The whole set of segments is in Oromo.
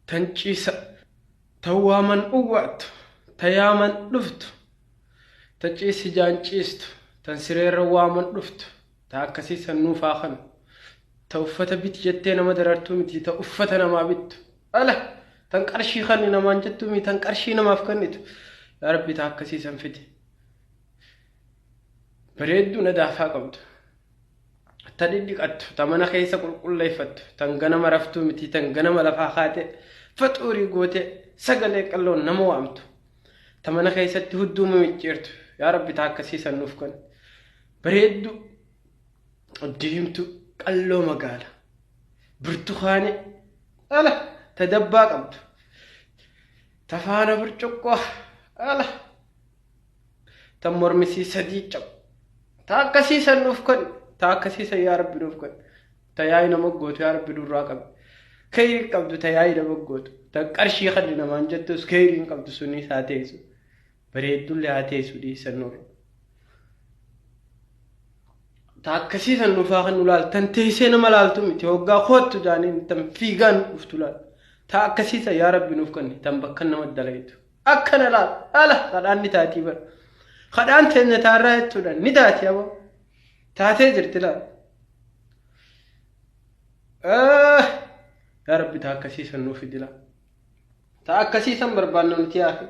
tan ciisa tan waaman uwwaattu ta yaaman dhuftu ta ciisi jaan ciistu tan sireerra waaman dhuftu ta akkasii san nuuf haa kanu ta uffata biti jettee nama darartuu miti ta uffata namaa bittu ala tan qarshii kanni namaan jettuu miti tan qarshii namaaf kannitu yaa rabbi ta akkasii san fide bareedduu nadaafaa qabdu ta dhidhiqattu ta mana keessa qulqulleeffattu tan ganama raftuu miti tan ganama lafaa kaate faxuurii goote sagalee qalloon nama waamtu ta mana keessatti hudduu mimicciirtu yaa rabbi ta akkasii san nuuf kan bareeddu diimtu qalloo magaala burtukaane ala ta dabbaa qabdu ta faana burcuqqoo ala tan mormisii sadii cabu ta akkasii san nuuf kan ta akkasii san yaa rabbi nuuf kan ta yaa'ii nama gootu yaa rabbi nurraa qabi keeyrii qabdu ta yaa'ii nama gootu ta qarshii kan namaan jettus keeyriin qabdu sunis haa teessu bareeddullee haa teessu dhiisan nurra ta akkasii san nuuf haa kan nu laal tan teessee nama laaltu miti hoggaa koottu jaaniin tan fiigaan dhuftu laal ta akkasii san yaa rabbi nuuf kan tan bakka nama dalaytu Akkana laal ala kadhaan ni taatii bara. Kadhaan teenya taarraa jechuudha ni taati abo. Taatee jirti laal. Yaa rabbi taa akkasii san nuuf fidi laal. Taa akkasii san barbaanna nuti yaafi.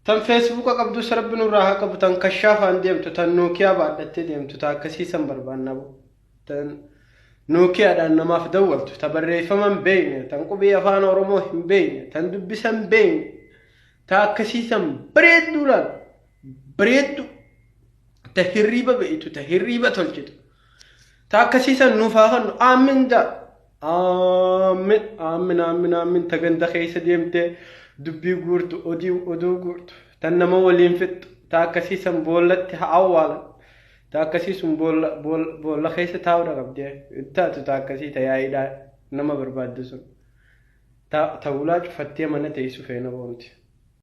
Tan feesbuuka qabdus rabbi nurraa haa qabu tan kashaafaan deemtu tan nookiyaa baadhattee deemtu taa akkasii san barbaanna abo. tan Nookiyaadhaan namaaf dawwaltu, ta barreeffama hin beekne, tan qubee afaan Oromoo hin beekne, tan dubbisa hin beekne, ta akkasii san bareedduu laal, bareedduu, ta hirriiba beektu, ta hirriiba tolchitu, ta akkasii san nuuf haa kennu, aammin jaa. Aammin, aammin, aammin, aammin, ta ganda keessa deemtee dubbii guurtu, odii, oduu guurtu, tan nama waliin fixxu, ta akkasii san boollatti haa awwaalan, Ta akkasii sun boolla boolla boolla keessa taa'uudha qabdee hin taatu ta akkasii ta yaa'iidhaa nama barbaaddu sun ta ta hulaa cufattee mana teessu feena boonti.